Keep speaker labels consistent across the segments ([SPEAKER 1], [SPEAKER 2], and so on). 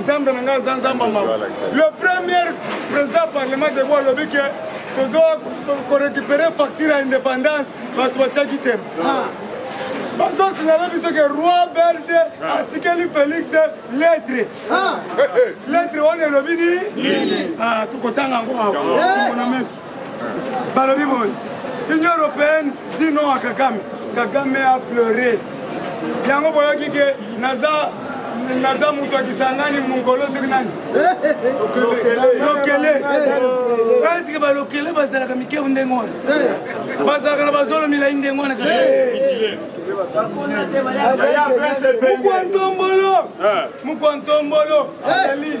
[SPEAKER 1] nzambe na ngai aza nzambe mawa le premier président parlement de bo alobi ke tozo korécupere facture ya indépendance bato batiaki te ah. bazosinala biso ke roi belge ah. atikeli félix lettre ah. lettre wana elobi nini tokotanga yango awa na meso balobi boye union européenne dit non à kagame kagame a pleure yango boyoki ke naza naza moto ya kisangani mongolo soki nani lokele eske balokele bazalaka mikebu ndenge wana bazalaka na bazolo milai ndenge wana mokwantombolo mokwantombolo azali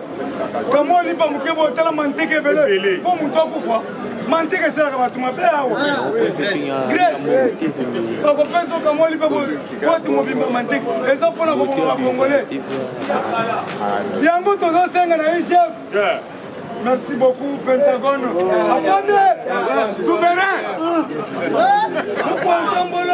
[SPEAKER 1] kamwa lipa moke boye tala manteke ebele mpo moto akufa manteke esalaka bato mabe awa grece bakopesa okamwa lipa bote mobimba manteke eza mpona koboma bakongole yango tozosenga na igf Merci beaucoup, Pentagone. Attendez Souverain Pourquoi ensemble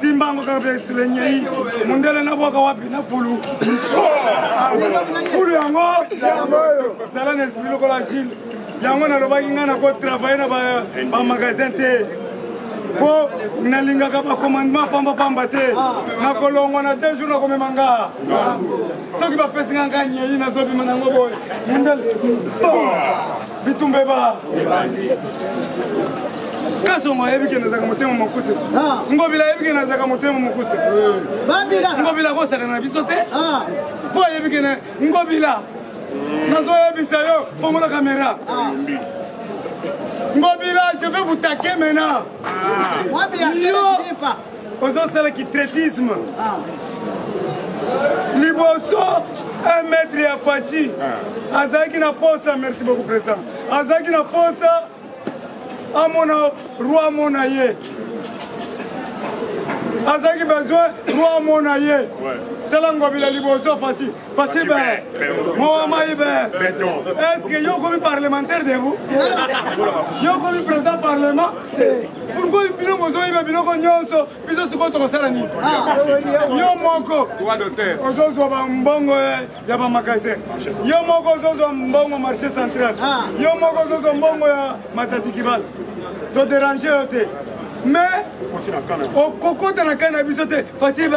[SPEAKER 1] simbango kaka mpe silenyei mondele nabwaka wapi na fulu fulu yango zala na esprit lokola gile yango nalobaki ngai nakotravaille na bamagasin te mpo nalingaka bacommandement pambapamba te nakolongwa na deux jour nakomema nga soki bapesi nga nga nyei nazobima nango boye mondele bitumba eba ebandi kasongo ayebi ke nazalaka motema mokuse ah. ngobila ayebi ke nazalaka motema mokuse eh. ngobila akosakana na biso te mpo ah. ayebi ke ngobila nazoyebisa yo fongola kamera ah. ngobila je vais vous taquer maintenant yo ozosala kitretisme ah. liboso un mètre ya faci ah. azalaki na posa merci beaucoup président azalaki na posa amona roi amona ye azalaki besoin roi amona ye tala ngobila liboso faci Fatibe, Moa Maïbe, est-ce que yo comme parlementaire de vous Yo comme président parlement Pourquoi bino bozoyiba biloko nyonso biso sikoyo tokosala nini Yo moko ozozwa bambongo ya bamagasin Yo moko ozozwa mbongo marché central Yo moko ozozwa mbongo ya matadikibala toderange yo te mais okokota na kai na biso te fatibe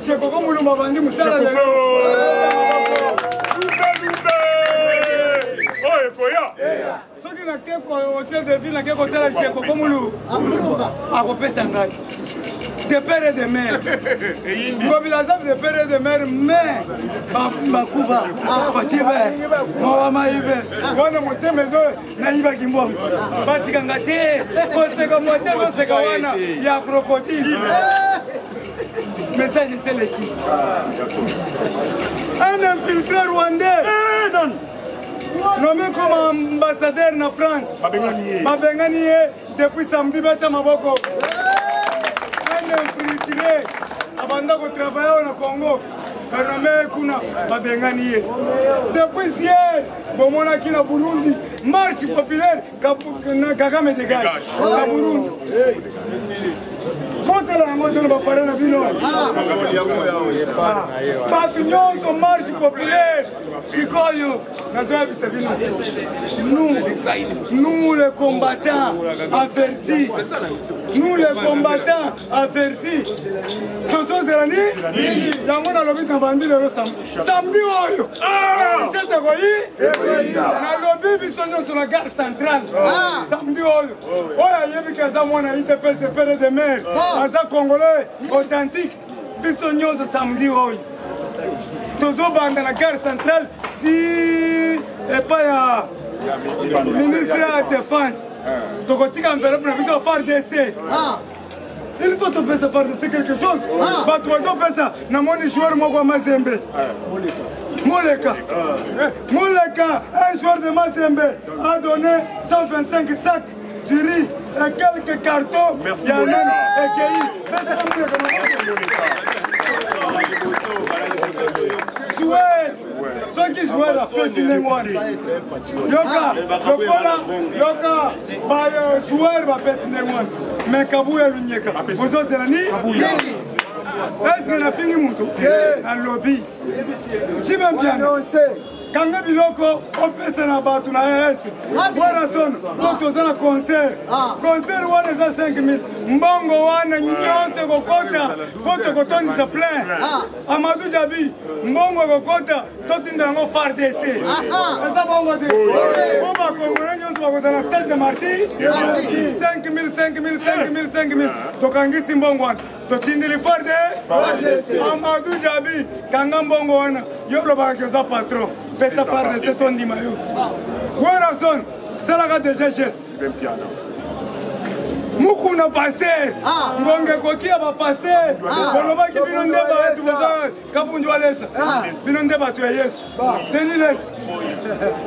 [SPEAKER 1] Shekoko Mulumba bandi musala lelo. Lumbe lumbe. Oh ekoya. Soki na ke ko hotel de ville na ke ko tala Shekoko Mulu. Akopesa ngai. de père et de mère ngobila aza de père et de mère mais bakuba fatie be mawa mayi be wana motema ezo nayibaki mbongo batika nga te koseka mote ezoseka wana ya krokodile message eseleki un infiltré rwandais nomi comme ambassadeur na france babengani ye depuis samedi bata maboko un infiltré abanda kotravaille awa na congo barame kuna babengani ye depuis hier bomonaki na burundi marche populaire na kagame degage na burundi kotala yango te na bapare na bino bato nyonso marche populaire sikoyo nazoyebisa bino nous nous les combattants avertis nous les combattants averti tozozela nini yango nalobi na bandi lelo samedi oyo richesse ekoyi nalobi biso nyonso na gare centrale samedi oyo oyo ayebi ke aza mwana idps de pere de mare aza congolais authentique biso nyonso samedi oyo tozobanda na gare centrale ti epai ya ministre ya défense tokotika enveloppe na biso fardc il faut topesa fardc quelque chose ah. bato bazopesa namoni joueur moko ya mazembe eh, moleka moleka eh. un joueur de mazembe a donné 125 sac du riz et quelques cartons ya nani ekeyi joueur soki joueur apesi ndenge wana yoka lokola yoka ba euh, joueur bapesi ndenge wana me kabuya lunyeka bozozela nini eske nafingi motu nalobi jibe mpiano kanga biloko opesa na bato na rs wana sono po toza na concert ah. concert wana eza 5000 mbongo wana nyonso ekokota po tokotondisa plein ah. amadou jabi mbongo ekokota totinda yango fardc eza bongo te po bakongole nyonso bakozala stade de marti 5000 5000 5000 5000 tokangisi mbongo wana totindeli fardc amadou jabi kanga mbongo wana yo olobaka ke oza patron pesa fardc tondima yo werason salaka deja geste mukuna paster ah. ngonga ekoki ya bapaster ah. bolobaki bino nde bato boza kabundu alesa bino nde bato ya yesu deniles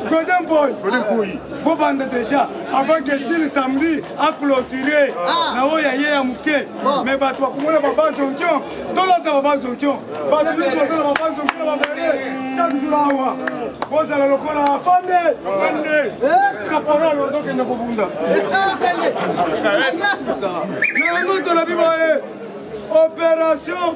[SPEAKER 1] godin boy bobanda deja avant que chile samedi aclotire ah. na oyo ya ye ya moke mais bato bakomona baba zonkion tolata baba zonkion bato biso bazala baba zonkion babele chaque jour awa bozala lokola afande eh? kaporal ozokende kobunda na yango tolobi boye opération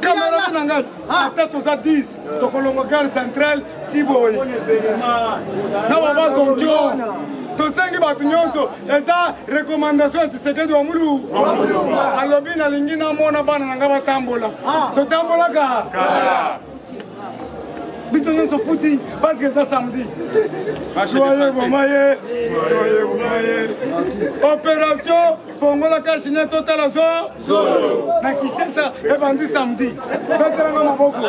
[SPEAKER 1] camarade na ngai ata toza 10 tokolongo gare centrale tiboyi na babazongio tosengi bato nyonso eza recommandation ya tshisekedi wa mulu alobi nalingi namona bana na ngai batambola ah. totambolaka biso nyonso futi parceke eza samedi soye boma ye soye boma ye opération fongola kashine totala zo na kinshasa ebandi samedi betelanga maboko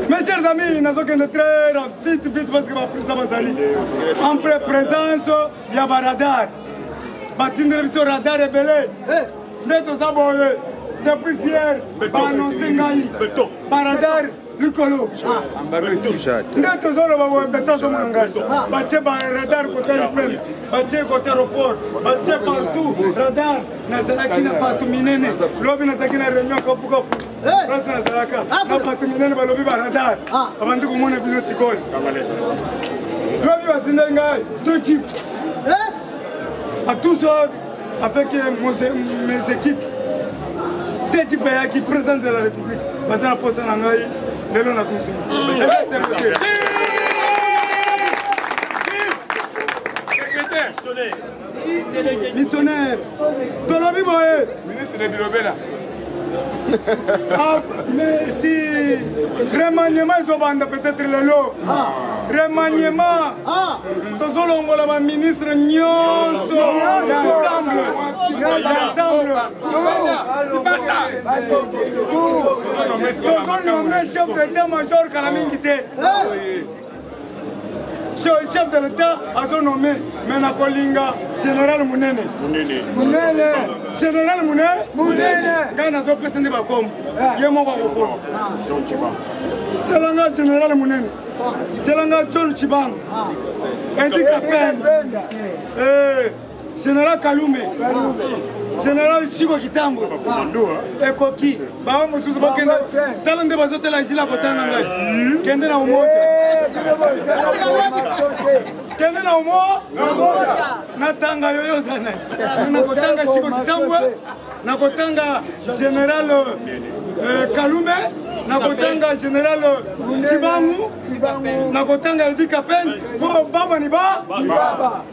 [SPEAKER 1] Mes chers amis, nazokende très vite vite parce que baprisa bazali en pré présence ya baradar batindeli biso radar ebele nde toza boye depuis hier baannonce ngai baradar likolo nde tozoloba watatazomona ngai batie baradar kota ipel batie kota aeroport batie partout radar nazalaki na bato minene lobi nazalaki na réunion kofukofu place nazalaka na bato minene balobi baradar abandi komona bino sikoyo lobi batindai ngai to jip à 12 heures avec euh, mes équipes te ekipe ayaki présidence de la république baza na posa na ngai lelo na tusi missionnaire tolobi boye ministre de bilobela Ah, merci. Remaniement ezobanda peut-être lelo. Ah. Remaniement. Ah. Tozolongola ba ministre nyonso ensemble. Ensemble. Tozonome chef d'état-major kala mingi te. chef de l'état azo nommé mais nakolinga général munene munene général munene munene ngai nazopesa nde bakombo eh. ye moko akopona tielanga général munene tielanga john chibanga ah. edi kapende eh. General Kalume, General Chico Kitambo, ekoki bango mosusu bakenda tala nde bazotala jila kotanga ngai kende na umoja kende na umo natanga yoyo oza naye nakotanga Chico Kitambo nakotanga General euh, Kalume nakotanga general cibangu nakotanga edi kapel mpo baba ni ba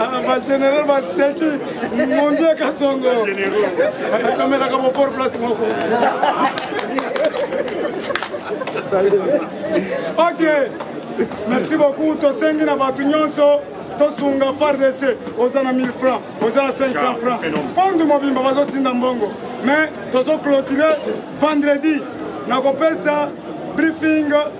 [SPEAKER 1] Ah, ba général baseki mongi ya kasongo atomelaka bofort place moko ok merci beaucoup tosengi na bato nyonso tosunga fardc oza na 1000 franc oza na 500 franc monde mobimba bazotinda mbongo mais tozoclotire vendredi nakopesa briefing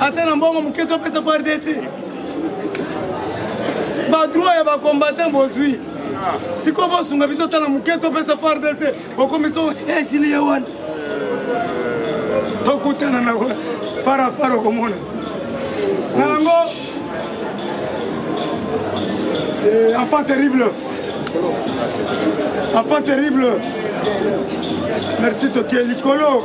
[SPEAKER 1] ata na mbongo moke topesa fardc badroit ya bacombatant bozwi sikoyo bosunga biso tala moke topesa fardc okomi to esili eh, ye wana tokutana na parafar okomona na yango eh, enfant terrible enfant terrible merci toke likolo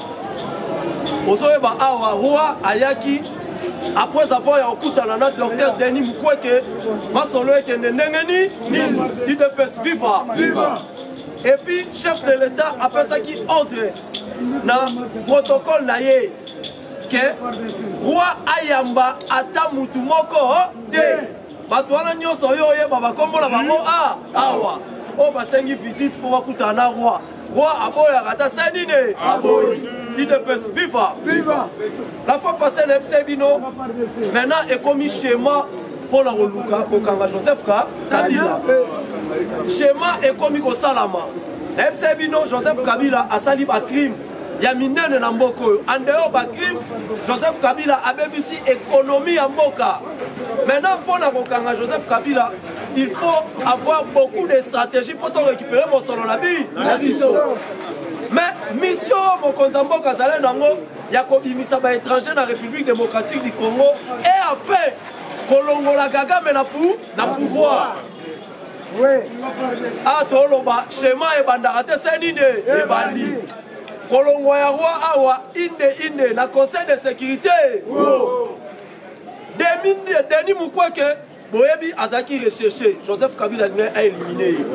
[SPEAKER 1] ozoyeba awa roi ayaki après avoir ya kokutana na docteur denis mukweke masolo ekende ndenge nini nini idps viva et puis chef de l'état apesaki ordre na protocole na ye ke roi ayamba ata mutu moko te bato wana nyonso oyo oyeba bakombo na bango hmm. a ah, awa oyo basengi visite mpo bakutana na roi roi aboyaka ata se nini aboyi idps viva viva la fois passé na yebisa bino maintenant ekomi schéma mpo na koluka kokanga joseph ka kabila schéma ekomi kosalama na yebisa bino joseph kabila asali bacrime ya
[SPEAKER 2] minene na mboka oyo andeyo bacrime joseph kabila abebisi ekonomi ya mboka maintenant mpo na kokanga joseph kabila il faut avoir beaucoup de stratégie mpo torécupere mosolo na bi na biso mais mission oyo mokonzi ya mboka azali nango ya kobimisa baétranger na république démocratique du congo et enfin kolongola kagame na pouvoir a toloba shema ebandaka te se nini ebandi kolongwa ya roi awa inde inde na conseil de sécurité denis mukweke boyebi azalaki recherche joseph kabila alingai aélimine ye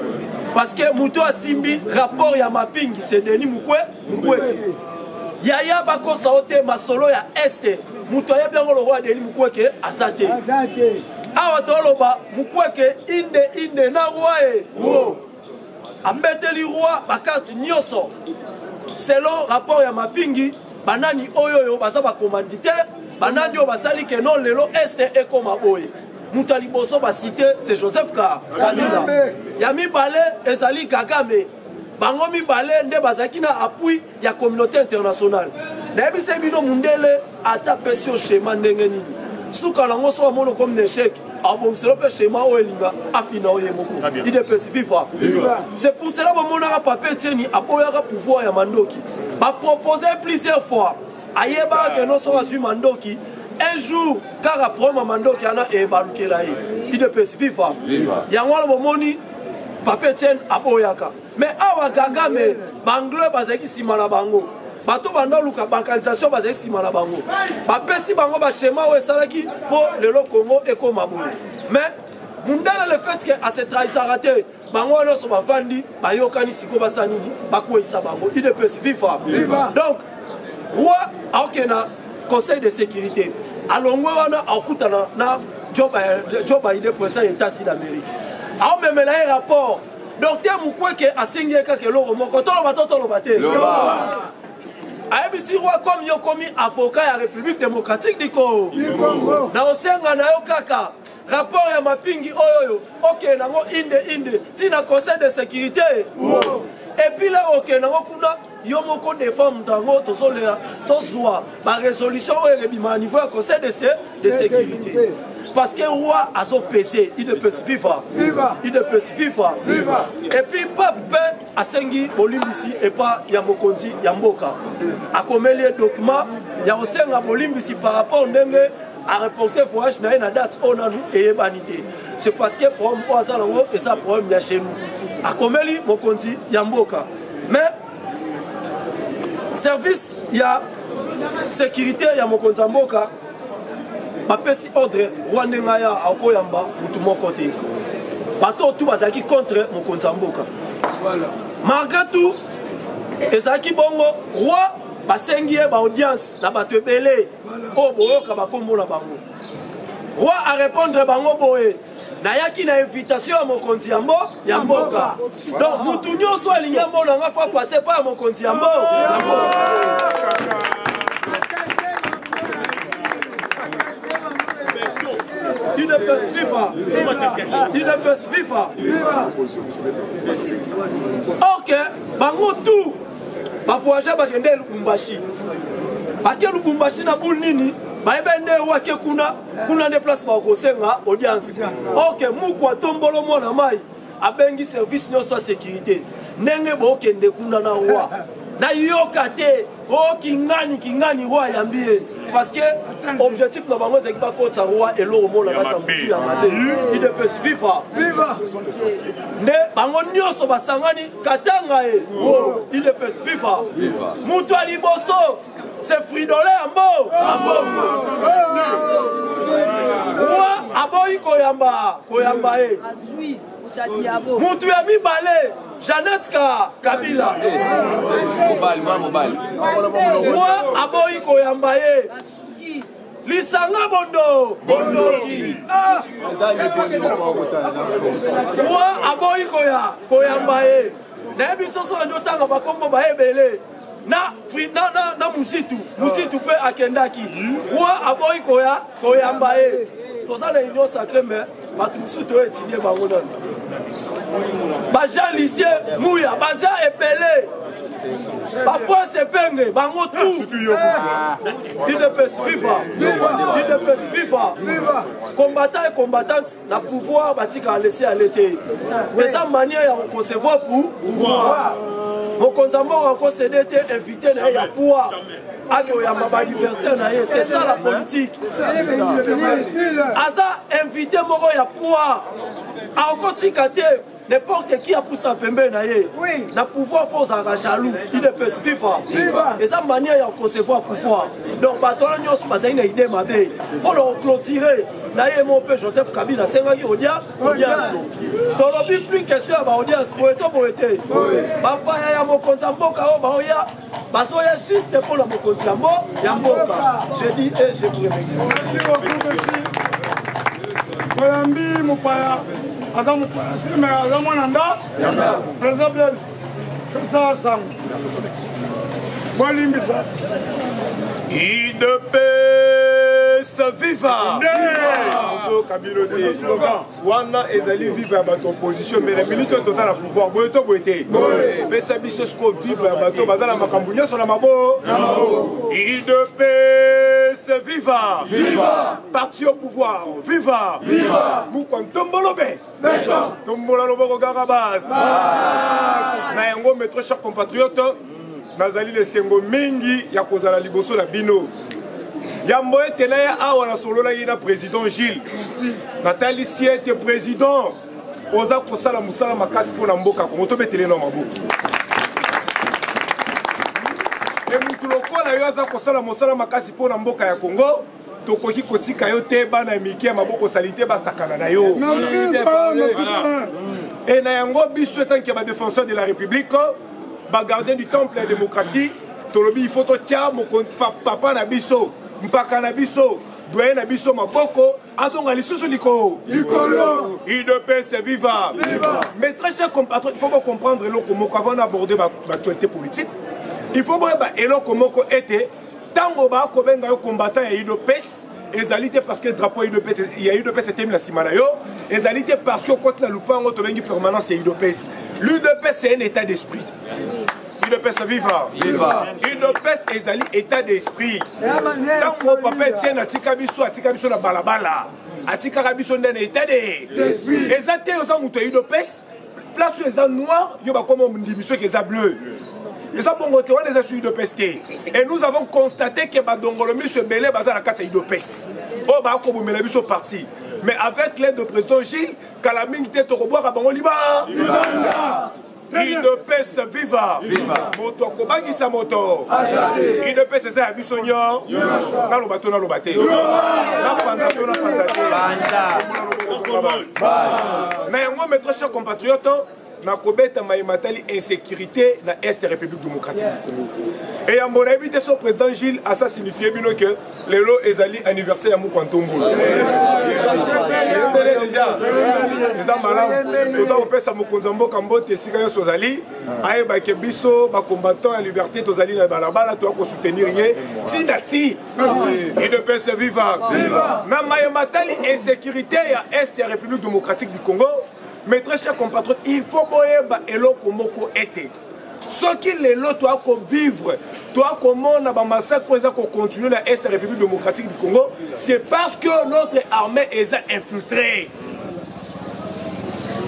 [SPEAKER 2] parce que moto asimbi rapport ya mapingi se denis mukwe mukweke yaya bakosa o te masolo ya este moto ayebi yango lokola deli mukweke aza te awa toloba mukweke inde inde na roi wo abeteli roi bakarte nyonso selon rapport ya mapingi banani oyo oyo baza bacommanditaire banani oyo basali keno lelo este ekoma boye moto ya liboso basite se joseph kabila ya mibale ezali kagame bango mibale nde bazalaki na appui ya communauté internationale nayebisai bino mundele ata pesi yo shema ndenge nini suka nango soki amoni okomi na echec abongiselo mpe shema oyo elinga afina oyo ye moko idps viva c'est pour cela bamonaka pape etieni aboyaka pouvoir ya mandoki bapropose plusieurs fois ayebaka keno soki azwi mandoki un jour kaka problème ya mandoki wana ebalukela ye idps viva yango wana bomoni papa etienne aboyaka mais awa kagame banglais bazalaki nsima na bango bato banda oluka balkanisation bazali nsima na bango bapesi bango bashema oyo esalaki mpo lelo congo ekoma boye mais mundele le fait ke asetrahisaka te bango wana nyonso bavandi bayokani sikoyo basala nini bakweisa bango udps viva donc roi aokende na conseil de sécurité alongwe wana akutana na joe eh, biden président ya états-unis d'amérique aomemela ye rapport docteur mukweke asengi ye kaka eloko moko toloba to toloba te ayebisi roi comme yo komi avocat ya république démocratique du congo nakosenga na yo kaka rapport ya mapingi oyo oyo okende nango inde inde ti na conseil de sécurité wow. epuis le okende nango kuna yo moko defend moto yango tozolela tozwa barésolution oyo ebima na niveau ya conseil de, se, de sécurité parce que roi azopese idps viva idps viva epuis pape mpe asengi bolimbisi epa ya mokonzi ya mboka akomeli ye document ya kosenga bolimbisi par rapport ndenge a reporte voyage na ye na date oyo nanu eyebani te c'est parce que problème oyo aza nango eza problème ya chez nous akomeli mokonzi ya mboka mais service ya sécurité ya mokonzi ya mboka bapesi ordre rwande ngai ya akoyamba motu moko te bato tu bazalaki contre mokonzi ya mboka malgré tout ezalaki bongo roi basengi ye baaudience na bato ebele oyo boyoka bakombo na bango roi arépondre bango boye nayaki na invitation ya mokonzi ya mbo ya mboka donc motu nyonso alingi amona nga fa passe mpo ya mokonzi ya mbo ya mboka Udps viva Udps viva Ok bango tout bavoyage bakende lubumbashi bake lubumbashi na bule nini bayebi nde wake kuna kuna nde place bakosenga audience ok muku atombolo mwana mai abengi service nyonso ya sécurité ndenge bokende kuna na roi nayoka te o oh, kingani kingani roi ayambi ye parce que objectif na bango ezalaki bakotisa roi eloko mona kati ya motu ya mabe idps viva nde bango nyonso basangani katanga e wo idps viva moto ya liboso se fridole ya mbo roi aboyi koyamba koyamba ye moto ya mibale janete ka kabila roi aboyi koyamba ye lisanga bondo bondoki ah! wa aboyi koya koyamba ye nayebi soso bandi otanga bakombo baye ebele na, na, na, na musitu musitu mpe akendaki wa aboyi koya koyamba ye toza na union sacre mais bato mosusu toyo etidie bango nano bajean lisie muya baza ebele Papa Sepenge, bango tout. Udps viva. Udps viva. Combattant et combattante, na pouvoir batika laisser à l'été. Mais sa manière ya concevoir pour pouvoir. Mokonzi mboka akosede te invité na ye ya pouvoir. ake oyamba baadversaire na ye c'est ça la politique aza invité moko ya poids akotika te n'importe qui apusa pembeni na ye na pouvoir fo ozalaka jaloux idps viva eza manière ya concevoir pouvoir donc bato wana nyonso bazali na idée mabe mpo na koclotire na ye mo mpe joseph kabila asengaki odia audience tolobi plus question ya baaudience boye to boye te bapaya ya mokonzi ya mboka oyo baoya bazoya juste mpo na mokonzi yango ya mboka je dis e je vous
[SPEAKER 1] remercie toyambi mopaya aza mopaya sime aza mwana nda président blel pesa sango bolimbisa
[SPEAKER 3] idepesa viva kabilo te wana ezali viva ya bato opposition mais na minute oyo toza na pouvoir boye to boye te pesa biso siko viva ya bato baza na makambo nyonso na mabo idps viva viva parti au pouvoir viva viva mukwa ntombolobe tombola loboko kaka base na yango metro cher compatriote nazali na esengo mingi ya kozala liboso na bino yambo ete na ye awa nasololaki na président gilles natalisi ete président oza kosala mosala makasi mpo na mboka kongo tobetele na maboko e motu lokola yo aza kosala mosala makasi mpo na mboka ya kongo tokoki kotika yo te bana ya mike ya maboko salite basakana na yo e na yango biso etanke ya badefenseur de la république bagardien du temple ya démocratie tolobi il faut totya papa na biso mpaka na biso doye na biso maboko azonga lisusu likolo likolo udps viva mais très cher compatriote il faut bocomprendre eloko moko avant na aborde baactualité politique il faut boyeba eloko moko ete ntango bakobenga yo combattant ya udps ezali te parce que drapeau ya udps etemi na nsima na yo ezali te parce que okoti na lupango tobengi permanence ya udps l'udps c'est un état d'esprit udps viva udps ezali état d'esprit ntango papa etienne atika biso atika biso na balabala atikaka biso nde na état de eza te oza moto ya udps place oyo eza noir yo bakoma ondimi soki eza bleu eza bongo te wana eza su udps te et nous avons constaté ke badongolo miso ebele baza na kati ya udps oyo bakobomela biso parti mais avec l'aide de président gilles kala mingi te tokobwaka bango liba udps viva moto akobangisa moto udps eza ya biso nyonso naloba to naloba te napanza to napanza te na yango metro cher compatriote nakobeta maye matali insécurité na est république démocratique du congo eyambo nayebi te so président gilles asa signifie bino ke lelo ezali anniversaire ya mokwa ntombolo eyembele deja eza malamu toza kopesa mokonzi ya mboka mbote esika nyonso ozali ayeba ke biso bacombattant ya liberté tozali na balabala toya kosoutenir ye ti na ti udps viva na maye matali insécurité ya est ya république démocratique du congo mais très cher compatriote il faut boyeba eloko moko ete soki lelo toya kovivre toya komona bamassacre oyo eza kocontinue na est ya république démocratique du congo c'est parce que notre armée eza infiltrée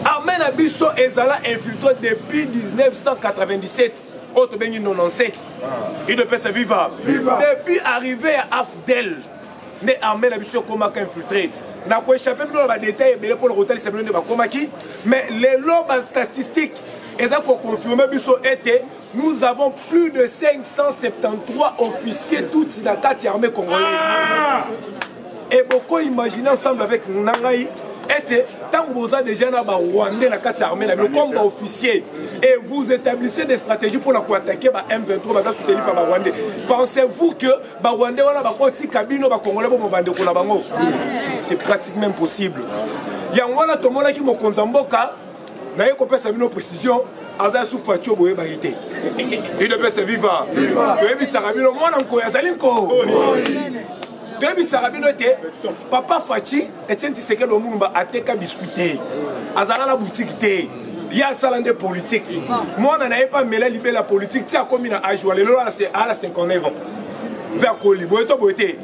[SPEAKER 3] armée na biso ezala infiltre depuis 1997 oyo tobengi 97 idepese viva depuis arrivé ya afdel nde armée na biso ekomaka infiltre na koechappe bino na badetail ebele mpo na kotalisa bino nde bakomaki mais lelo bastatistique eza koconfirme biso ete Nous avons plus de 573 officiers tutsi na kati ya armée congolaise. Ah! Et beaucoup imaginez ensemble avec Nangaï ete ntango boza déjà na barwandais na kati ya armée na bino comme baofficier et vous établissez des stratégies mpona koattaquer ba m23 baza soutenu par barwandais pensez-vous que barwandais wana bakotika bino bakongolais bomo bandeko na bango c'est pratiquement impossible yango wana tomonaki mokonzi ya mboka naye kopesa bino précision aza su facio boyeba ye te udps viva toyebisaka bino mwana nkoyi azali nko toyebisaka bino ete papa faci etienne tisekelo mulumba ateka biskuit te azala na butiki te ye asala nde politike mwana na ye mpe amela libela politike ti akomi na age wa lelo ala 59 ans mpe akoli boye to boye te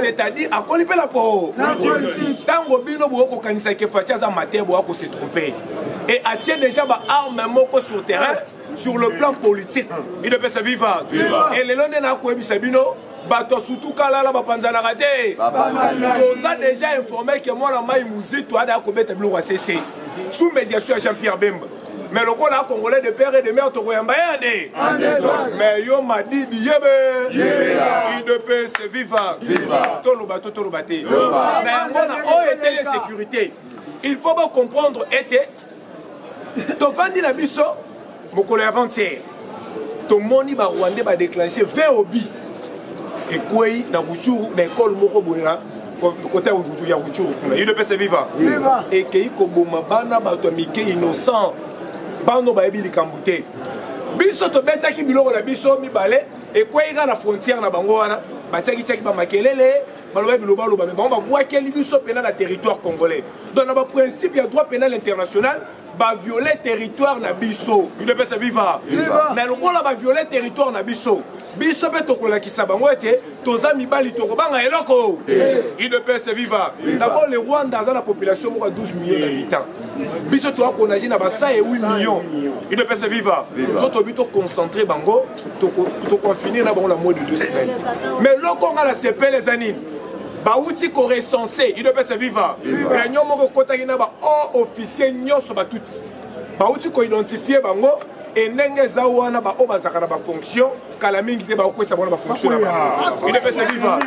[SPEAKER 3] c'est-à-dire akoli mpe na po ntango bino boye kokanisa ke faci aza mate boya ko se trompe et atie déjà baarme moko sur terrain sur le plan politique idopesa viva e lelo nde nakoyebisa bino bato ya sutukalala bapanzanaka te toza déjà informe ke mwana mai muzito ada akobeta biloko ya sese sous médiation ya jean pierre bemba mais lokola congolais de père et de mère tokoyamba ye ande mais yo madidi yebe udps viva toloba to toloba te na yango na oyo etele sécurité il faut bocomprendre ete tofandi na biso mokolo ya 20 tomoni ba rwandais ba déclencher vob ekwei na ruchuru na ekole moko boye na kote ya ruchuru kuna udps viva ekei koboma bana bato ya mike innocent bano bayebi likambo te biso tobetaki biloko na biso mibale ekwei kaka na frontière na bango wana batiaki tiaki bamakelele baloba biloba loba me bango babwakeli biso mpena na territoire congolais donc na baprincipe ya droit pénal international baviole territoire na biso udepese viva mais lokola baviole territoire na biso biso mpe tokolakisa bango ete toza mibali tokobanga eloko udps viva dabord le rwanda aza na population moko ya 12 million d'habitant biso toakonage na basa ya 8 million udps viva so tobi toconcentre bango toconfine na bango na moins de deux semaines mais loko nga na sepele eza nini bauti korecense idopesa viva réunion moko ekotaki na ba o officier nyonso batuti bauti koidentifie bango e ndenge eza wana baoyo bazalaka na bafonction kala mingi te bakokwesa bango na bafonction na bango idopesa viva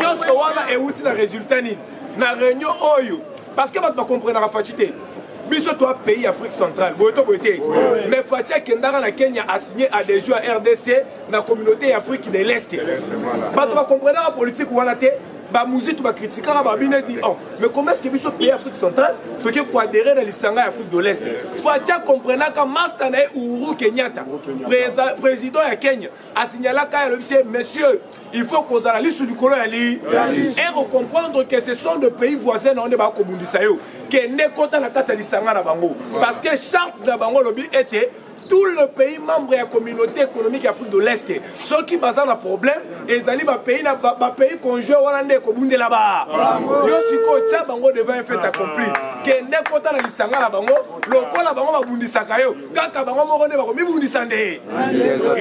[SPEAKER 3] nyonso wana euti na résultat nini na réunion oyo parce que bato bakomprenaka faci te biso toa pays afrique centrale boye to boye te mais fati akendaka na kenya asigne adhesion ya rdc na communauté ya afrique de l'est bato bakomprenaka politique wana te bamuzitu bakritikaka babino eti oh mais comment est-ce que biso pays afrique centrale toki koadere na lisanga ya afrique de l'est fatia comprenaka masta na ye uhuru kenyatta président ya kenya asignalaka ye alobisi ye monsieur il faut kozala lisu likolo ya li e kocomprendre que ce sont de pays voisin na yo nde bakobundisa yo kende kota na kati ya lisanga na bango parce que charte na bango olobi ete tout le pays membre ya communauté économique ya afrique de l'est soki baza na problème ezali bapays na bapays conjoint wana nde ekobundela ba yo sikoyo tya bango devant un fait accompli kende kota na lisanga na bango lokola bango babundisaka yo kaka bango moko nde bakomibundisa nde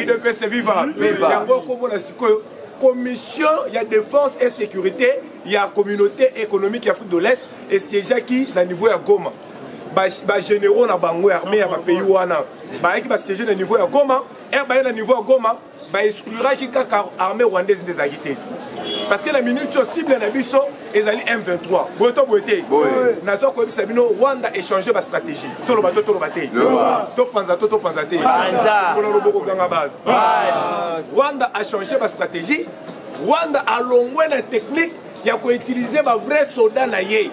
[SPEAKER 3] idps viva yango okomona sikoyo commission ya défense et sécurité ya communauté économique ya afrique de l'est esiégeaki na niveau ya goma bagénéraux na bango ya armée ya bapays wana bayaki basiége na niveau ya goma ere baye na niveau ya goma ba excluraki kaka armée rwandaise nde ezalaki te parce que na minute oyo cible na biso ezali m23 boye to boye te nazwa koyebisa bino rwanda échange bastratégie toloba to toloba te topanza to topanza te mpona loboko ganga base rwanda achange bastratégie rwanda alongwe na technique ya ko utiliser ba vrai soda na ye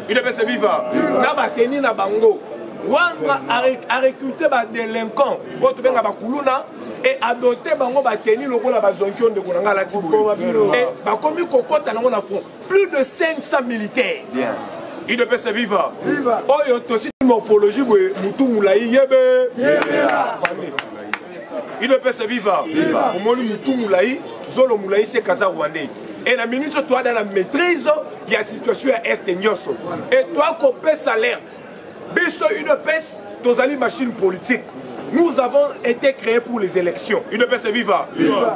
[SPEAKER 3] idps viva na bateni na bango wanga arecrute badelinquant oyo tobenga bakuluna e adote bango bateni lokola bazonki oyo ndeko na ngai alati boye bakomi kokɔta nango na front plus de 500 militaires idps viva oyo tosi morphologie boye motu molai yebe idps viva omoni motu molai zolo molai se kaza rwandais e na minute oyo toada na maîtrise ya situation ya este nyonso e toa kopesa alerte biso udps tozali machine politique nous avons été créés pour les élections udps viva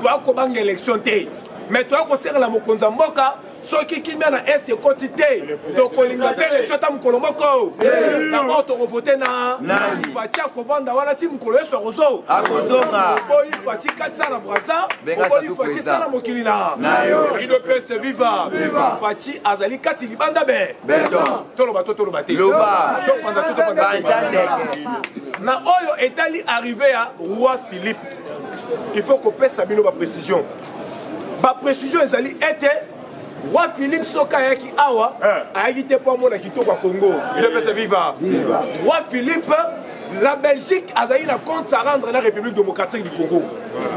[SPEAKER 3] toa kobanga élection te mais toa kosengela mokonzi ya mboka soki kimia na est ekoti te tokolinga mpe élection ata mokolo moko yango tokovote na faci akovanda wana ti mokolo yesu akozo akozonga oboyi faci katisa na brasa oboyi faci sala mokili na rido peste viva faci azali kati libanda be toloba to toloba te topanza to topanza na oyo etali arrive ya roi philippe il faut kopesa bino baprécision baprécision ezali ete roi philippe soki ayaki awa eh. ayaki te mpo amona kitoko ya congo idepesa viva roi philippe la belgique azali na compte à rendre la république démocratique du congo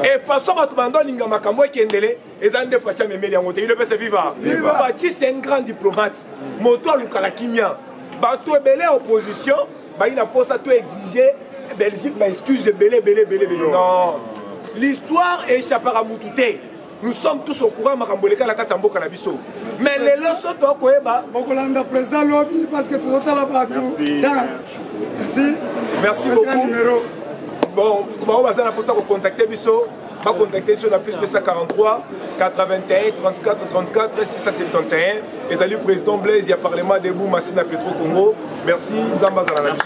[SPEAKER 3] et façon bato bando alinga makambo ekendele eza nde faci amemeli yango te idepesa viva faci c'est un grand diplomate moto alukaka kimia bato ebele ya opposition bayi na mposa to exige belgique ba excuse ebele ebele ebele ebele non l'histoire echappaka motu te nous sommes tous au courant makambo eleka na kati ya mboka na biso mais lelo so toa koyeba okolanda président
[SPEAKER 1] lobi parce que tozotala bato merci merci
[SPEAKER 3] beaucoup bon baoyo baza na mposa kocontacte biso bacontacte biso na plus 243 81 34 34 671 ezali président blaise ya parlement debout masi na petro congo merci nzambe azala na biso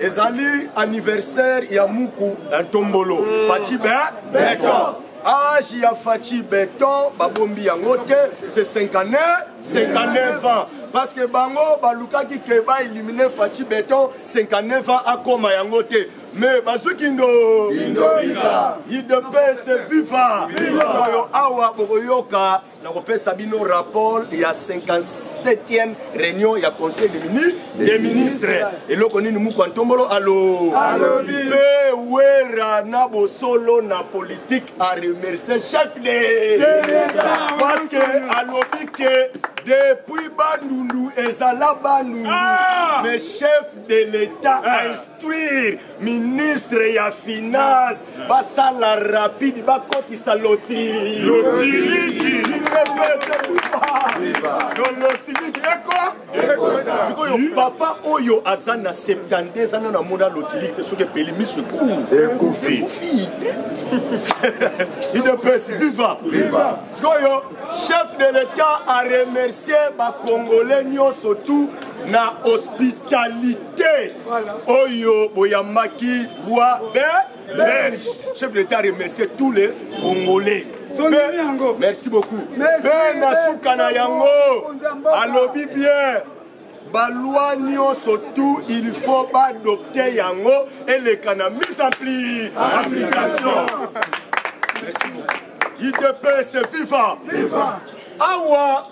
[SPEAKER 2] ezali anniversaire ya muku na ntombolo mm. faci be beton age ya faci beton babombi yango te se 59 59 ans parce que bango balukaki ke baelimine faci beton 59 ans akoma yango te mais bazwi kindo idps viva oyo awa bokoyoka nakopesa bino rapport ya 57e réunion ya conseil de mini de ministre eloko nini mukwa ntombolo alo alobi mpe wera na bosolo na politique a remercie chef de parce que alobi ke depuis bandundu ezala bandundu ah! mais chef de l'état ah! détruire ministre ya finance basala rapide bakotisa lotili lotiliki lotiliki eko sikoyo papa oyo aza na 72 ana namona lotiliki mpe soki epeli miso ekufi ekufi idps viva sikoyo chef de l'état a remercier bacongolais nyonso tout na hospitalité te oyo boyambaki roi be belge chef de l'état remercie tous les congolais merci beaucoup mpe na suka na yango alobi bien balwa nyonso tu il faut baadopte yango eleka na mise en pli application merci beaucoup idps viva awa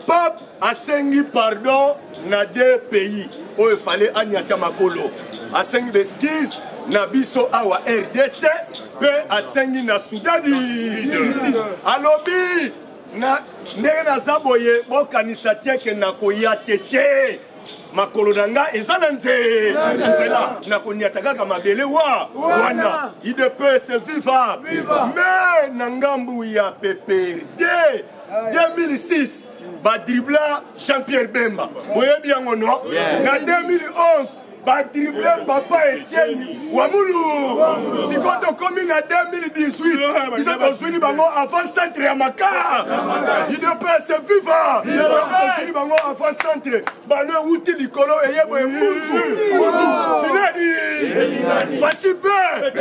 [SPEAKER 2] pape asengi pardon na deux pays oyo efale anyata makolo asengi beskise na biso awa rdc mpe asengi na sudani alobi na ndenge naza boye bokanisa te ke nakoya te te makolo na ngai eza na nze na nzela na koniata kaka mabele wa wana idps viva me na ngambu ya pprd 2006 badribla jean pierre bemba boyebi yango no na 2011 badrible papa etieni wa mulu sikoyo tokomi na 2018 biso tozwini bango avant centre ya maka idps viva tozwini bango avant centre bano ewuti likolo eye boye mutu mutu finani faci be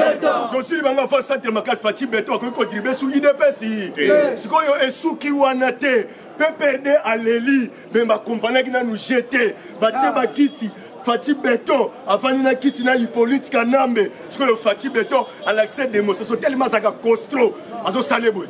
[SPEAKER 2] tosili bango afa centre makasi faci beto akoki kodribe su idps sikoyo esuki wana te pprd aleli me bakompanaki nanu je te batie ah. bakiti faci beton afandi na kiti na hippolyte kanambe sikoyo faci beton alakisa demonstration telema azalaka costro azosala boye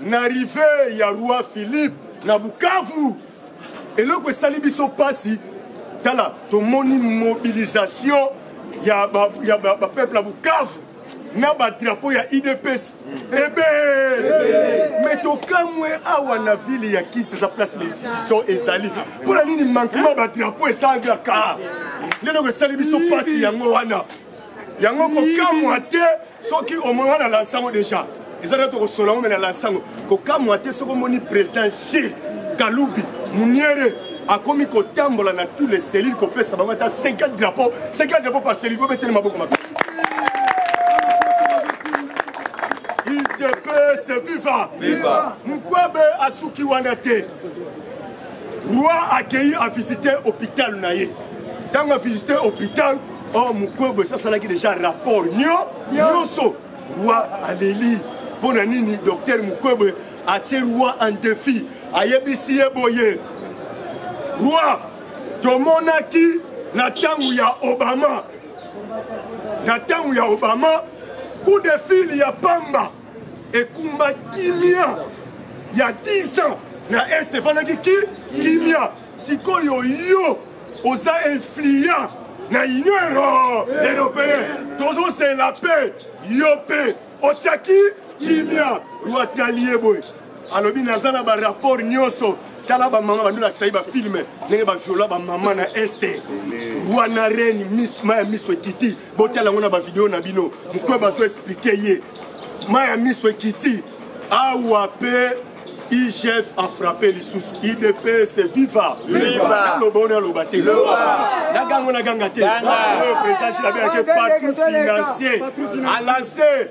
[SPEAKER 2] na rive ya roi philippe na bukavu eloko esali biso mpasi tala tomoni mobilisation ya bapeuple ya, ba, ba, ya bukavu na badrapo ya idps ebe me tokamwe awa na ville ya kinshasa place l'institution ezali mpo na nini mankema badrapo esalaka nde eloko esali biso mpasi yango wana yango kokamwa te soki omona na lansango deja eza nde tokosola ngo me na lansango kokamwa te soki omoni président gilles kalubi muniere akomi kotambola na tous les cellules kopesa bango ata 50 drapeau 50 drapeau par cellule bobeteli maboko mabe idps viva mukwebe asuki wana te roi
[SPEAKER 4] akeyi avisite hôpital na ye ntango avisite hôpital o oh, mokwebo esi asalaki déjà rapport nio nyonso roi aleli mpo na nini docteur mokwebo atie roi en défi ayebisi ye boye roi tomonaki na ntango ya obama na ntango ya obama coup de fil ya pamba ekumba kimia ya 10 ans na est efandaki ki kimia sikoyo yo oza influent na union européen tozosela mpe yo mpe otiaki kimia rwatalie boye alobi naza na barapport nyonso tala bamama bandolakisa ye bafilme ndenge baviola bamama na este wana reni maya miso ekiti botala yango na bavideo na bino mokwe bazo explike ye mai ya miso ekiti awa mpe igf afrappe lisusu idps viva naloba oyo naloba te nagango naganga te oyo président jilabe yake patron financier alase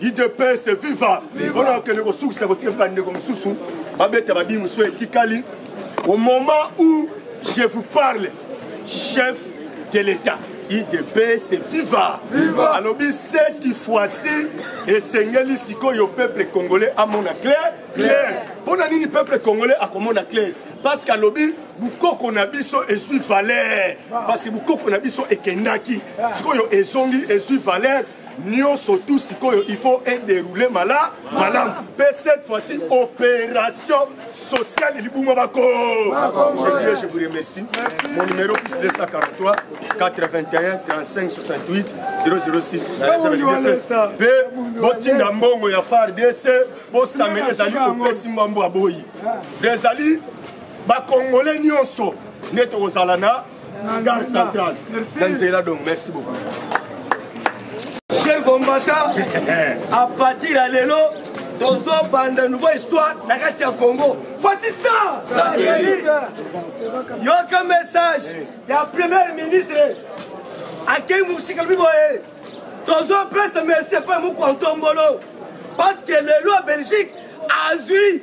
[SPEAKER 4] idps viva mpona kokende kosukisa kotika mpe bandeko mosusu babeta babi mosusu etikali au moment où je vous parle chef de l'état idps viva alobi cette fois-ci esengeli sikoyo peuple congolais amona clair clair mpo na nini peuple congolais akomona clair parce que alobi bukoko na biso ezwi valeur ah. parce que bukoko na biso ekendaki ah. sikoyo ezongi ezwi valeur nionso tout sikoyo il faut ederoule mala malamu mpe cette fois-ci opération sociale libuma bako je dirais je vous remercie mon numéro plus 243 81 35 68 006 mpe botinda mbongo ya fardc bosamela ezali kopesi mbambo aboyi ezali bakongole nyonso nde tokozala na Gare centrale. Danzela donc, merci beaucoup.
[SPEAKER 2] Cher combattant, à partir à l'élo, tozobanda nouveau histoire na kati ya congo fatisa yoka message ya premier ministre akei mosika lobi boye tozopesa merci epai mokwa ntombolo parce que lelo ya belgique azwi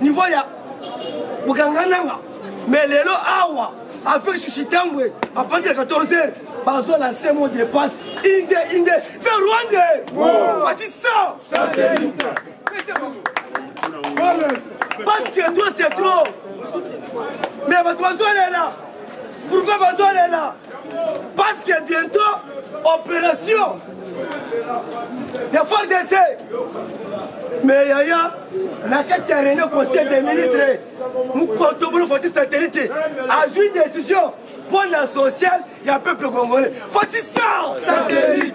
[SPEAKER 2] niveau ya bokanga nanga mais lelo awa avec susitambwe à partir de 14 heures bazo lancer mon dépasse inde inde vers rwande fati ça satellite parce que toi c'est trop mais bato bazolela pourquoi bazolela parce que bientôt opération de fordc mais yaya na kati ya réunion conseil des ministres mokoto bino foti satellite azwi décision mpo na sociale ya peuple congolais foti sans satellite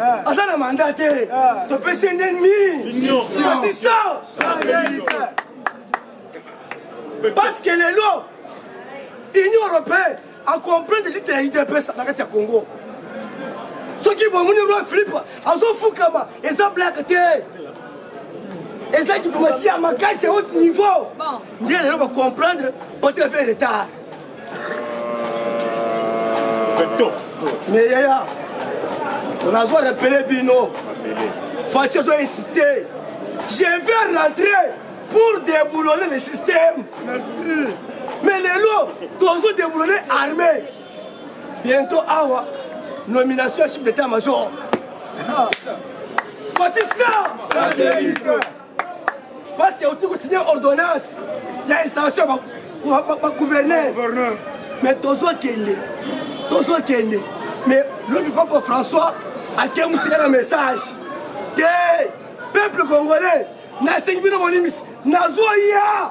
[SPEAKER 2] Eh. aza na manda te eh. topesi ye nde nini matisa parce que lelo union européenne acomprendre lite ya idps na kati ya congo soki bomoni roi philippe azofukama eza blake te eza diplomatie ya makasi ya haut niveau nde lelo bacomprendre otefe retard mais yaya nazwa repele bino faci azo insiste je vais rentrer pour déboulonner le système merci mais lelo tozo déboulonner armée bientôt awa nomination ya chef d'état major faci ça parce que auti kosigne ordonnance ya installation ya bagouverneur mais tozokende tozokende mais lobi papa françois akengusika na message te peuple congolais nasengi bino bolimisi nazoya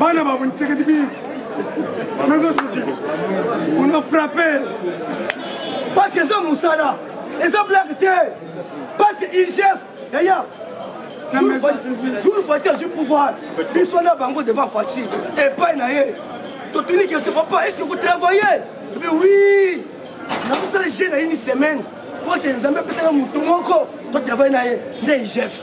[SPEAKER 1] bana babo nsekedi bive nazo siti una frappe
[SPEAKER 2] parce que eza mosala eza blague te parce que igf yaya jour fati azwi pouvoir biso na bango devant fati epai na ye totuniki ese papa eske kotravaille ebe wi nakosala je na ini semaine po ke nzambe apesaka motu moko totravaille na ye nde igf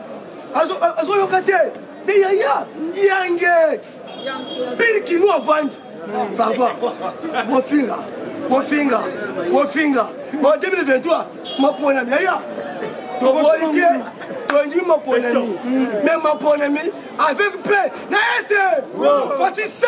[SPEAKER 2] azoyoka te de yaya yange pire kino avandi sava bofinga bofinga bofinga bo 2023 maponami yaya toboyi te tondimi maponami mais maponami avec paix na este fatisa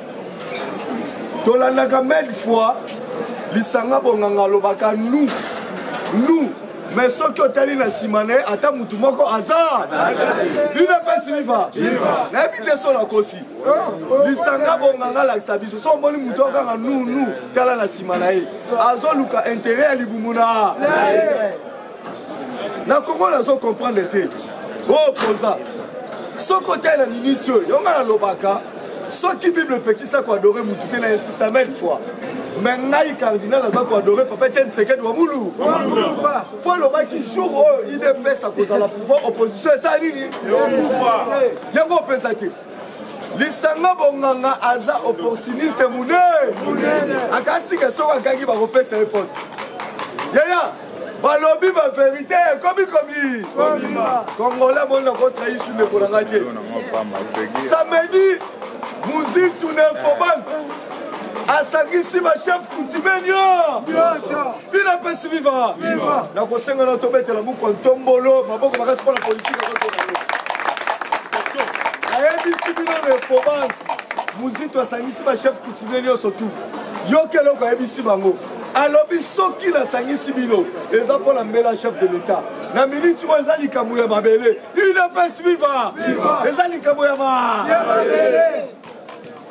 [SPEAKER 4] tolandaka mille fois lisanga bonganga alobaka nu nu me soki otali na nsima na ye ata motu moko aza bino mpesi liva nayebi te so nakosi lisanga bonganga alakisa biso so omoni motu okanga nunu tala na nsima na ye azoluka intere ya libumu na na congo nazo comprendre te oyo poza soki otali na miniti oyo yo ngai nalobaka soki bible epekisa koadore motu te na insista mille fois me ngai cardinal aza koadore papa etienne sekedi wa mulu mpo alobaki jour oyo idps akozala pouvoir opposition eza nini yango opesa te lisanga bonganga aza opportuniste monene akasika soki akangi bakopesa ye poste yaya balobi ba verité ekomi komi congolais boni nakotrahisi ndeko na ngai te samedi muzitu na infoban asangisi bachef kutime nio bina pesi viva nakosenga na tobetela mukwa ntombolo maboko makasi mpo na politike nayebisi bino na infoban muzitu asangisi bachef kutime nyonso tu yoki eloko ayebisi bango alobi soki nasangisi bino eza mpo na mbela chef de l'etat na miniti oyo eza likambo ya mabele udps viva eza likambo ya mabele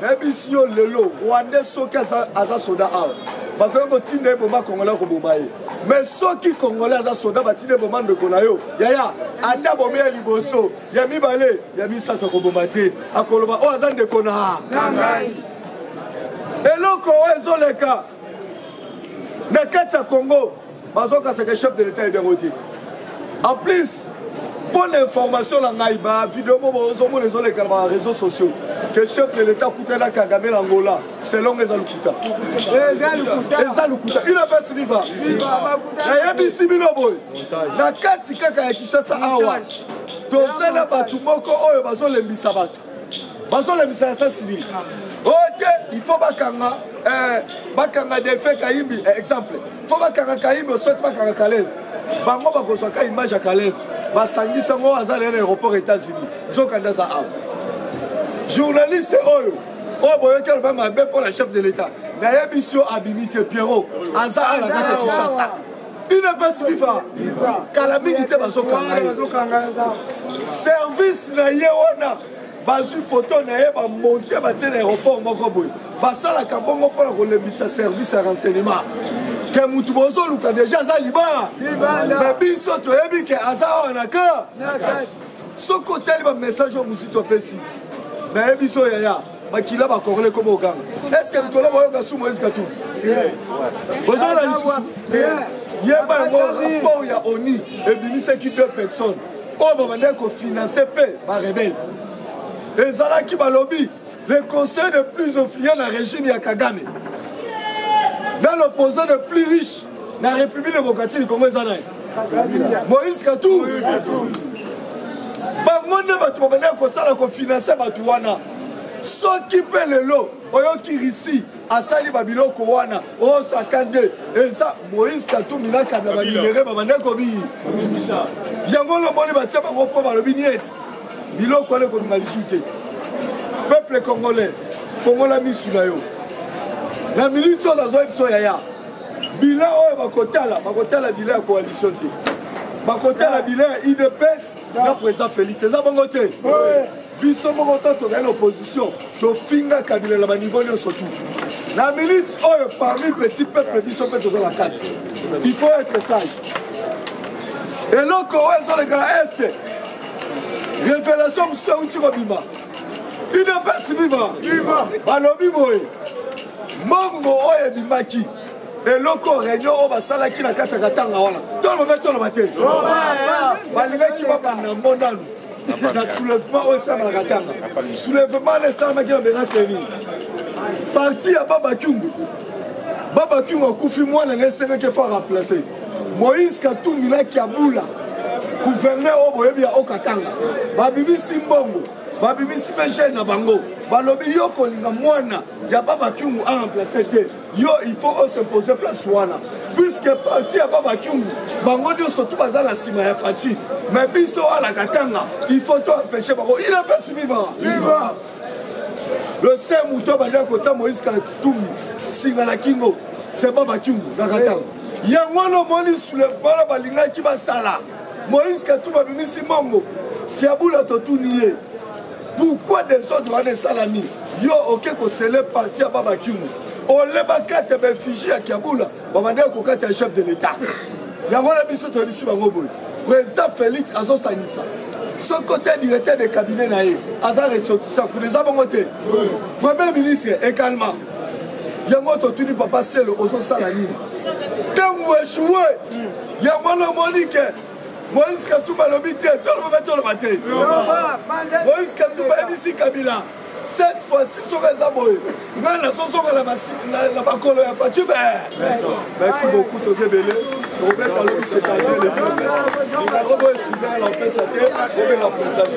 [SPEAKER 4] nayebisi yo lelo rwande soki aza, aza soda awa bakoki kotinda ye boma kongolais koboma ye mais soki kongolais aza soda batinda ye boma ndeko na yo yaya ata bomi ya liboso ya mibale ya misato akoboma te akoloba oyo oh, aza ndeko na ngai eloko oyo ezoleka na kati ya congo bazokasaka chef de l'état ebiango te en plus mpo na information na ngai bavideo mo bozomona ezoleka na bareseau sociaux que chef de l'état akutana kagame na angola selongo eza lokuta eza lokuta inapesi viva nayebisi bino boye na kati kaka ya kinshasa awa toza na bato moko oyo bazolembisa bato
[SPEAKER 5] bazolembisa ya sasili oyo oh, te il faut bakanga eh, bakanga delfe kayimbi eh, exemple faut bakanga kayimbi osoti bakanga kaleve bango bakozwa ka image ya kaleve basangisa ngo aza lelo aéroport états-unis nzokande aza awa journaliste oyo oyo boyoki aloba mabe mpo na chef de l'état nayebisi yo abimi te pierrot aza awa na kati ya kinshasa udps viva kala mingi te bazokanga ye service na ye wana bazwi foto na ye bamonte batie na aéroport moko boye basalaka bongo mpo na kolembisa service ya renseignement ke motu bozoluka deja aza libaa me biso toyebi ke aza awa na ka soki otali bamessage oyo mosito apesi nayebi so yaya makila bakorle koma oganga eske mikolo bayoka su moise katumbi ozala lisusu yeba yango rapport ya oni ebimisaki deux personnes oyo babandaki kofinanse mpe barebele ezalaki balobi le conseil de plus influent na régime ya kagame na l'opposant de plus riche na république démocratique du congo eza nani moïse katou bango nde bato babandaki kosala kofinanse bato wana soki mpe lelo oyoki risi asali babiloko wana osaka nde eza moïse katumi na kabila baminere babanda kobiyi yango lomoni batia bango mpo balobi nieti biloko wana ekobima lisu te peuple congolais fongola misu na yo na miniti oyo nazoyebiso yaya bilan oyo bakotala bakotala bilan ya coalition te bakotala bilan ya idps na président félix eza bongo te biso moko to tozali na opposition tofinga kabila na baniveau nyonso tu na minute oyo parmi petit peuple biso mpe toza na kati il faut être sage eloko oyo ezoleka na este révélation mosusu euti kobima udps viva balobi boye mbongo oyo ebimaki eloko réunion oyo basalaki na kati ya katanga wana tolobaki toloba te balingaki babanda ngo nanu na soulèvement oyo esalamaka katanga soulèvement na esalamaki na bena tenir parti ya babakiungu babakiungu akufi mwana na esengaki efo remplace Moïse Katumbi na Kiabula gouverneur oyo boyebi ya Okatanga babimisi mbongo babimisi mpe jeune na bango balobi yo kolinga mwana ya baba kiungu aremplace te yo il faut osimposer place wana puiske parti ya baba kiungu bango nyonso tu baza na nsima ya faci mais biso wana katanga il faut to empêche bango il empêche viva le se moto abandaki kotya moïse katumbi singa na kingo se baba kiungu na katanga yango wana omoni soulèvement na balingaki basala moïse katumbi abimisi mambo kiabula totuni ye pourkui desordre wana esalami yo oke kosele parti ya babakimu olebakata baeffigie ya kiabula babandaki kokata ya chef de l'état yango na biso toyebisi bango boye président félix azosangisa soki ote directeur de cabinet na ye aza ressortissant kuna eza bongo te premier ministre egalement yango totuni papa selo ozosala nini ntango echue yango wana omoni ke moïse katumba alobi te toloba mpe toloba te moïse katumba ayebisi kabila cette fois-ci soki eza boye ngai nazozonga na makolo ya faci be merci beaucoup toza ebele tokobeta lobi setanie lebiomesnimero boyo eskizanga na opesa te obela
[SPEAKER 2] presage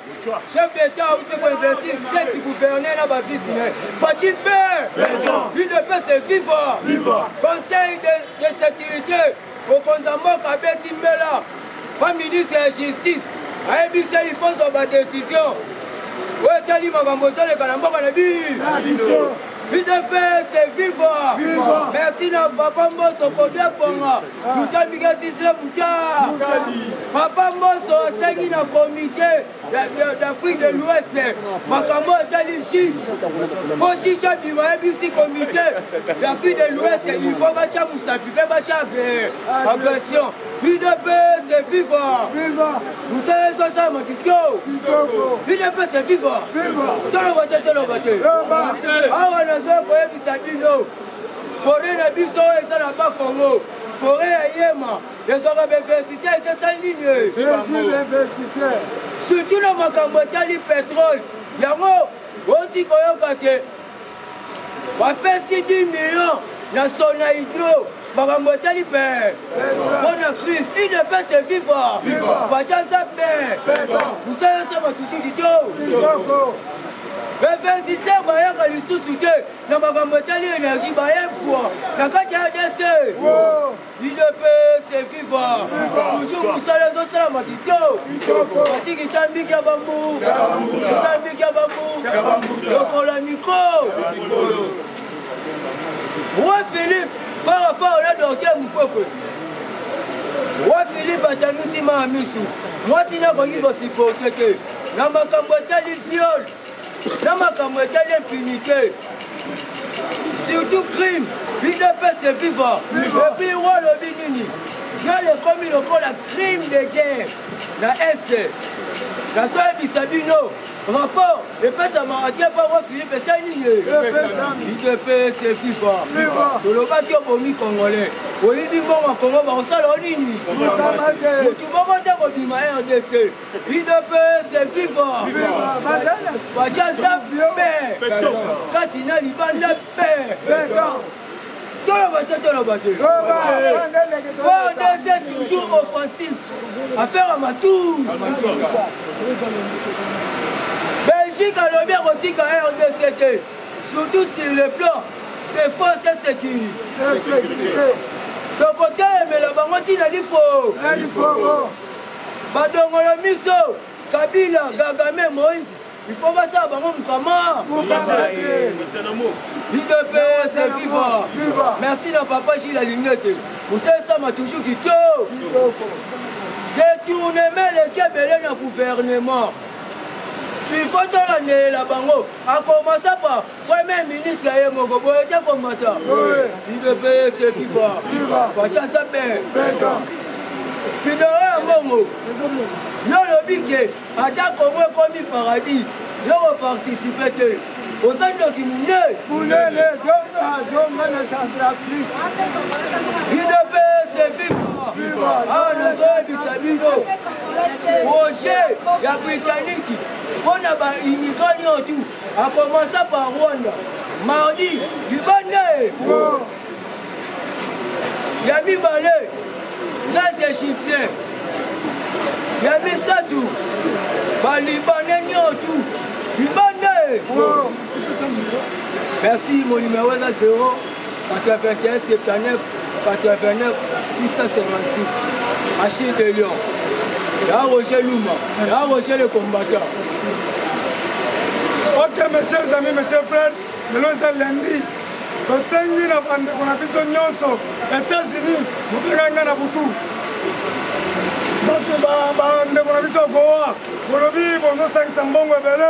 [SPEAKER 2] Chef d'État auti ko investir sept gouverneurs na ba vice ne. Fatih père. Lui de paix c'est viva. Viva. Conseil de, de sécurité mokonzi ya mboka abeti mbela ba ministre ya justice ayebisi ye ifo zwa badesizio oyo etali makambo ezoleka na mboka na biso udps viva merci na papa mboso kodeponga mokambi gasisle buta papa mboso asengi na komite d'afrique de l'ouest makambo etali juge mpo juge abima ayebisi komite d'afrique de l'ouest il faut batya mosapi mpe batya agression udps viva mosala ezo asalama kitoko udps viva toloba te toloba te awa nazoya koyebisa bino foret
[SPEAKER 1] na biso oyo eza na ba congo foret ya yema ezwaka bainvestite ezesali nini surtout na makambo etali petrole yango oti koyoka te bapesi 10 million na sona hydro makambo etali pe mpo na crise idepese viva faca nzambe mosala nsema tusuki to bainvestise bayaka lisusu te na makambo etali energie baepwa na kati ya adc udps viva toujours mosala ezosalama kitoko ati kitambi kya bambu kitambi kya bambu lokola mikro roi philippe farafara na dorke mukwekwe roi philippe atangisi maa misu mwasi nakoki kosiporte te na makambo etali viole na makambo etali impunité surtout crime udps eviva epuis wa alobi nini viol ekomi lokola crime de guerre na est nazoyebisa bino rapport epesamaka te mpo ngo philipe esali nini udps eviva tolobaki obomi congolais oyibi mbongo ya kongo bakosala o nini motu moko te kobima rdc udps viva facaza pe kati na libanda pe toloba te toloba te fordc toujours offensif affaire ya matour belgique alobi akotika rdc te surtout sur le plan défense et sécurité tokotelemela bango ntina lifo badongolo miso kabila gagame moise ifo basala bango mokama idps viva merci na papa gile alingi ete mosalisama toujours kito detournement eleki ebele na gouvernement ifo tolandelela bango akomasa pa Premier ministre ye moko boye te komata idps fifa faca sape fidoro ya mbongo yo olobi ke ata kongo ekomi paradis yo koparticipe te oza ndoki monene monene zonga zonga na centrafrique idps fifa awa nazoyebisa bino projet ya britannique mpo na baimmigrant nyotu A commencer par Rwanda. Mardi, libanda e. Ya mibale, les Égyptiens. Ya misato, ba Libanais nyotu. Libanda e. Merci, mon numéro est à 0. 81 79 89 656 Achille de Lyon ya Roger Luma ya Roger le combattant
[SPEAKER 5] Ok mes chers amis, mes chers frères, lelo eza lundi tosengi na bandeko na biso nyonso États-Unis mobengaki ngai na butu bato bandeko na biso goa bolobi bozosangisa mbongo ebele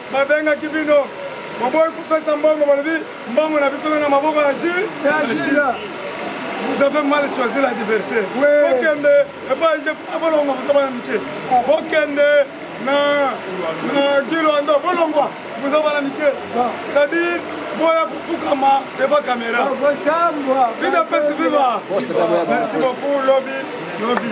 [SPEAKER 5] babengaki bino boboyi kopesa mbongo balobi mbongo na biso na maboko ya jila vous avez mal choisi l'adversaire bokende epai jef abolongo boza bana mike bokende na gilwando bolongwa boza bana mike c'est-à-dire boya kofukama devant caméra vida pesi viva merci beaucoup lobi lobi